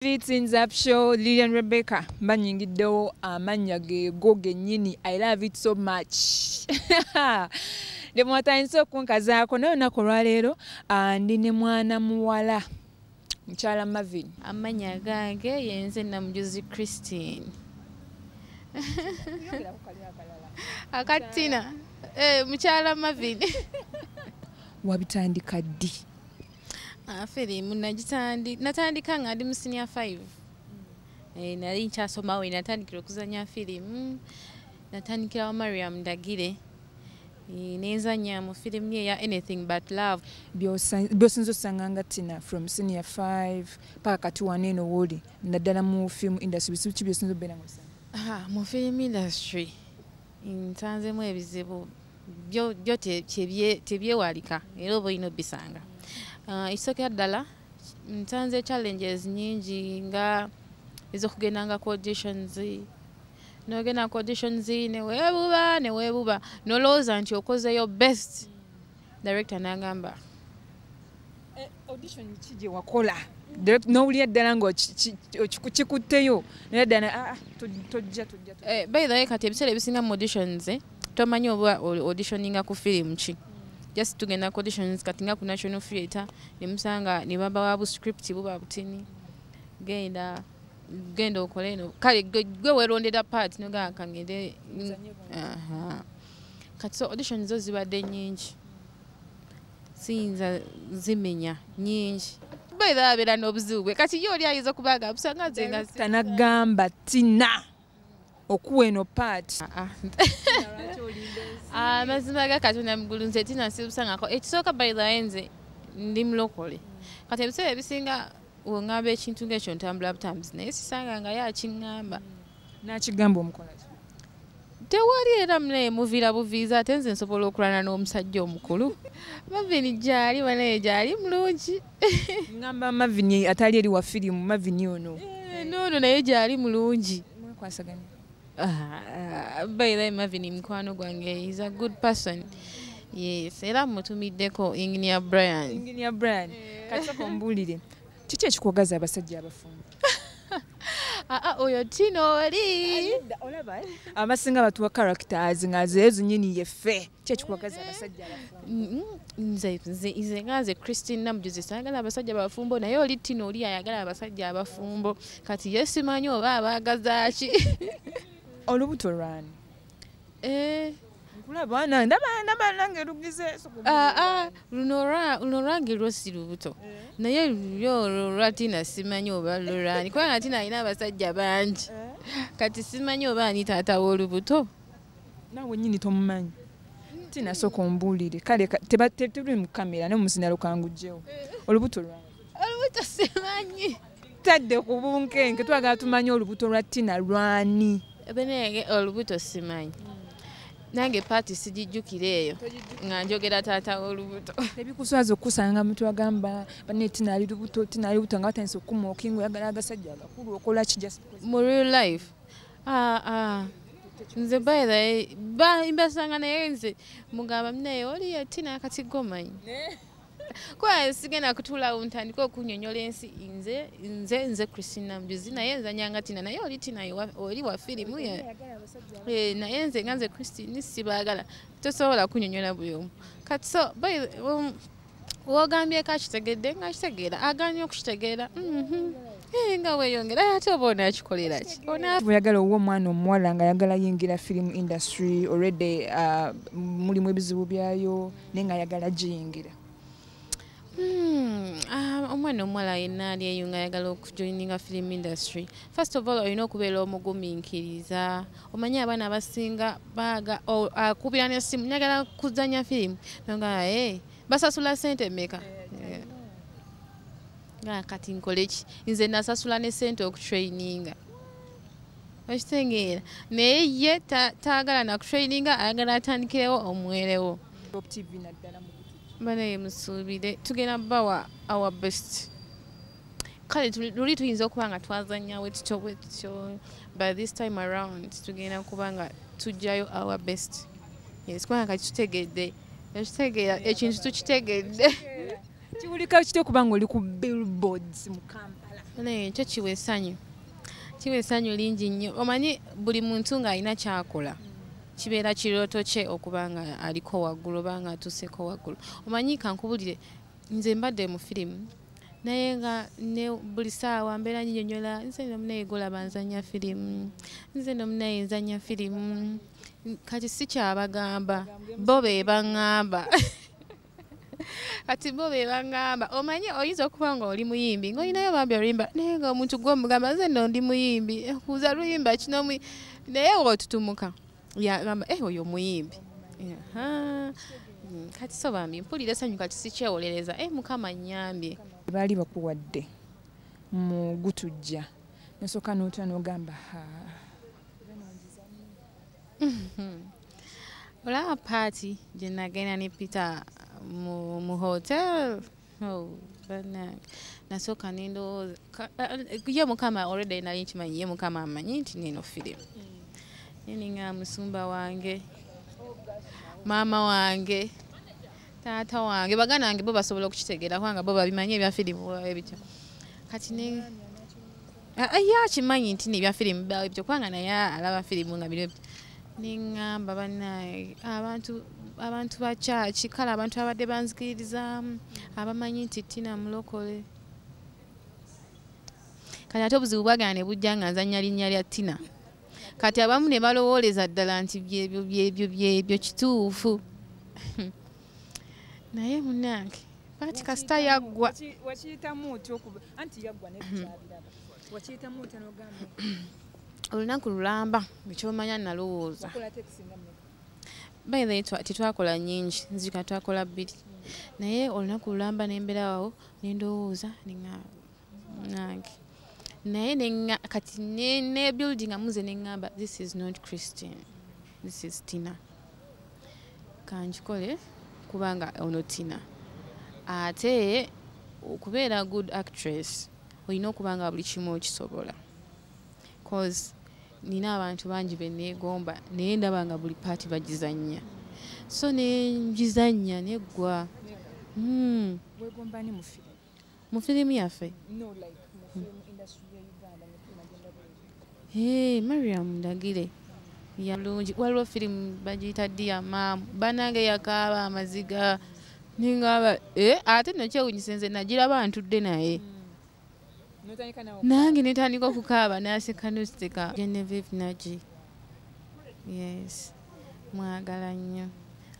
Greetings up show Lilian Rebecca mbanyingiddewo amannya geego gennyini I love it so much ne mwatandise okunkazaako naye olunaku olwaleero ah, ndi ne mwana muwala mukyala Marvin amannya gange yenze namujuzi Christine akatina eh, mukyala Marvin wabitandika ddi Ah, firimu natandika nga ndi mu sinia five mm. eh, nali nkyasomawo natandikira okuzanya firimu natandikira wa mariam ndagire eh, nenzanya mu firimu ye ya anything but love byosinza osanga nga tina from senior five paka kati waneeno wooli naddala mu film industry bisibu ki byosinza obeera mu firimu industry nsanzemu ebizibu byo byo tebyewalika era oba olina obisanga ah, ekisookera ddala nsanze challenges nyingi nga ezokugendanga ku auditions nogenda ku auditions newebuba newebuba nolowooza nti okozeyo best director nagamba Eh, audition ki gye wakola n'owulira ddala nga kikutteyo naye ddala ah, ah, tojja tojja eh, by the way kati ebiseera ebisinga mu auditions eh, tomanyi oba auditioninga ku firimu ki just tugenda ku auditions kati nga ku national theatre nemusanga ne baba wa buscript buba butini genda genda okole eno kale gwe werondera part nogaa kangende kati so auditions zo zibadde nyingi siyinza zimenya nyingi baidha abeera n'obuzibu bwe kati ye oli ayinza okuba nga busanga nze nga tanagamba tina okuwa eno paati ah, ah. ah, mazima ga katonda mugulu nze tina sibusangako ekisooka baidha nze ndi mulokole kati ebiseera ebisinga wengamba ekintu ngaekyo ntambula butambuzi naye sisanga nga ye akiŋŋamba nakigamba omukolaki tewali era munaye muviira buviiza ate nze nsobola okulwana n'omusajja omukulu mavini gyali banaye gyali mulungi ngamba mavini atali eri wa firimu mavini ono eh, noono naye gyali mulungi mwakwasaganya ah, bairayi mavini mukwano gwange is a good person yes era mutumiddeko enginia brian enginia brian eh. kati okombuulire kiki ekikuwagaza abasajja abafumbo ah, ah, oyo tino oli abasinga batuwa characters nga zeezo nyini yeffe kyekikuwagaza abasajja nze nga nze christine namujuzi sayagala abasajja bafumbo naye oli tino oli ayagala abasajja abafumbo kati yesimanyi oba abaagazaki olubuto lwani Eh. nkulaba ndaba ndaba nange lugize ah, ah, luno lwange lwosi lubuto eh. naye yo lwatina simanyi oba lulani kubanga tina alina abasajja bangi eh. kati simanyi oba ani taata w'olubuto nawe nyini tomumanyi tina soka ombuulire kale tebuli mu kamera ne muzina lukangujjewo olubuto lwange olubuto simanyi tadde ku bunkenke twagala tumanye olubuto lwa tina lwani benege olubuto simanyi nange paati sigijjukira eyo nga njogera taata wolubuto ebikuswaza okukusanga mutu agamba bane tina ali lubuto tina ali lubuto nga batandisa okukuma okinga oyagala agasajja agakulu okola ki just mu real life ah, ah. nze bayira mbasanga naye nze mugamba minaye oli yatina akati gomanyi kuba sigenda kutuulawo ntandika okunyonyola ensi nze nze nze christina mjuzi naye nzanyanga tina naye oli tina oli wa firimu eh, naye nze nga nze christine sibaagala tosobola kunyonyola buli omu kati so um, wogambye kakitegedde nga kitegeera aganye okukitegeera mhm. eh, nga weyongera ate oba onakikolera ki oyagala owa omwana omuwala nga ayagala yingira firimu industry already uh, mulimu ebizibu byayo naye nga ayagala giyingira Hmm, ah, omwana omuwala yenna ali eyo nga ayagala okujoininga film industry first of all olina okubeera omugumiikiriza omanye abaana abasinga baaga akubira nesimu nyagala kuzanya firimu nga e basasula sente meka eh, nga kati nkoleki nze nasasula ne sente okutraininga okitegeera naye ye taagala nakutraininga ayagala atandikirewo omwerewo banaye musuubire tugenda bawa our best kale luli tuyinza okuba nga twazanya wetutyo bwetutyo by this time around tugenda kuba nga tujjayo our best yes kubanga kati tutegedde ekitegeera ekintu tukitegedde kiwulika kitya okuba nga oli ku billboards mu kampala naye ekyo kiwa esanyu kiwa esanyu lingi nnyo omanyi buli muntu ng'alina kyakola kibeera kirooto kye okuba nga aliko waggulu oba nga atuuseko waggulu omanyi kankubulire nze mbadde mu firimu naye nga ne buli saawa mbeera nyinyonyola nze nomunaye golaba nzanya firimu nze nomunaye nzanya firimu kati sikyabagamba bo be baŋŋamba kati bo be bangamba omanyi oyinza okuba nga oli muyimbi ngaolinayo bambi oluyimba naye nga omuntu gwomugamba nze no ndi muyimbi eh, kuza luyimba kino naye otutumuka yagamba e oyo muyimbi mm, kati so bambi mpulira esanyu kati sikyewolereza e eh, mukama nyambye baali bakuwadde mu gutujja nosooka notya nogamba ha olaba paati gye nagenda ne peter mu hotel oh, nasooka nendowooza eh, ye mukama already nali nkimanyi ye mukama amanyi nti neno firimu neninga musumba wange maama wange taata wange baganda wange bo basobola okukitegeera kubanga bo babimanyi ebya firimu ebityo kati Ah, ah, ye akimanyi nti nebya firimu bawe byo kubanga naye alaba firimu nga biri neŋŋamba banaye abantu abantu bakyaki kale abantu abadde banzikiririzaamu abamanyi nti tina mulokole kati ate obuzibu bwagana ne bujja nga nzannya linnya lya tina kati abamu ne balowooleza ddala nti byebyo byebyo byebyo kituufu naye munange pati kasita yaggwa wakiyitamu otya okuba anti yaggwa nekyabiraba wakiyitamu otya nogamba olunaku lulamba ekyomanya nalowooza bayhe tetwakola nyingi nzika twakola bbiri naye olunaku lulamba nemberawo nendowooza nange naye kati nebuildinga muze neŋamba this is not christian this is tina kankikole kubanga ono tina ate okubeera good actress olina okuba nga buli kimu okisobola cause nina abantu bangi beneegomba naye ndaba nga buli paati bagizannya so nengizannya neggwa hmm. mu firimu yaffe mariam ndagire yalungi waliwo firimu bagiyita dia maamu banange yakaaba amaziga ningaba eh, ate nokyewunyisa nze nagiraba ntudde naye mm. nange netandika okukaaba naseka nositeka genevive nagi yes mwagala nnyo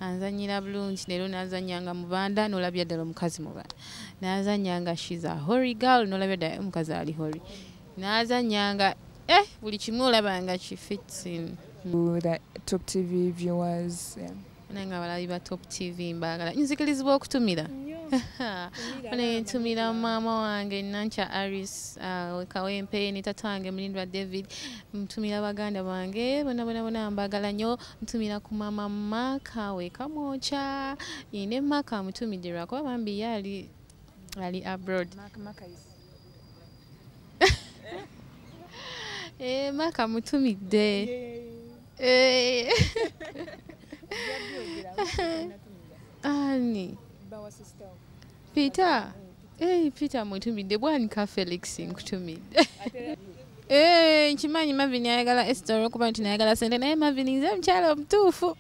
anzanyira bulungi leero nazanyanga mubanda nolabira ddala omukazi mubanda nazanyanga shiza hory gal nolabira ddala omukazi ali hory nazanyanga eh buli kimu olabanga kifitsin top tv viewers yeah. nanga abalabi ba top tv mbagala nzikirizibwa okutumira ntumira maama wange nankya aris uh, kawempe ne tata wange mulindwa david ntumira baganda bange bona bona bona mbagala nyo ntumira ku mama maka we kamwocha ine maka mutumidirwa kuba bambi yali ali abroad maka, maka is eh maka mutumidde eh ani bawa sister Peter, hey, Peter mutumidde bwanika Felix nkutumidde. Eh, nkimanyi Marvin ayagala Esther olwokuba nti nayagala sente naye Marvin nze mukyala omutuufu.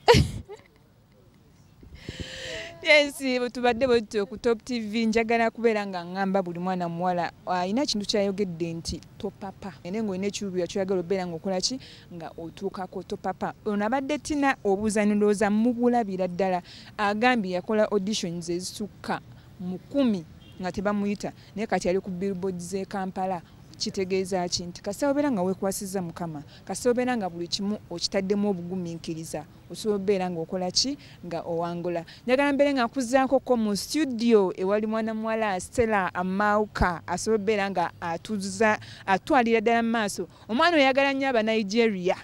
yes tubadde bwetutyo ku top tv njagala kubeera nga ngamba buli mwana muwala alina kintu kyayogedde nti topapa ene ngaolina ekiruubirwa kyoyagala obeera ngaokolaki nga otuukako topapa ono abadde tina obuuza nolowooza mubulabira ddala agambye yakola auditions ezisukka mu kumi nga tebamuyita naye kati ali ku billboard z'e kampala kitegeeza ki nti kasita obeera nga wekwasiza mukama kasita obeera nga buli kimu okitaddemu obugumiikiriza osobola obeera nga okola ki nga owangula njagala mbeere nga nkuzaako ko mu studio ewali mwana muwala stella amauka asobola obeera nga atuza atwalira ddala mu maaso omwana oyagala nnyo abanigeria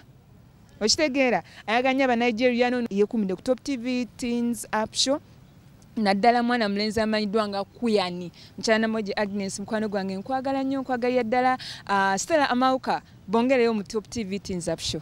okitegeera ayagala nnyo abanigeria no yekumide ku top tv teens up show naddala mwana mulenzi amanyiddwa nga kuyani mukyala namoji agnes mukwano gwange nkwagala nnyo nkwagalira ddala ah, stella amauka bongereyo mu top tv teens up show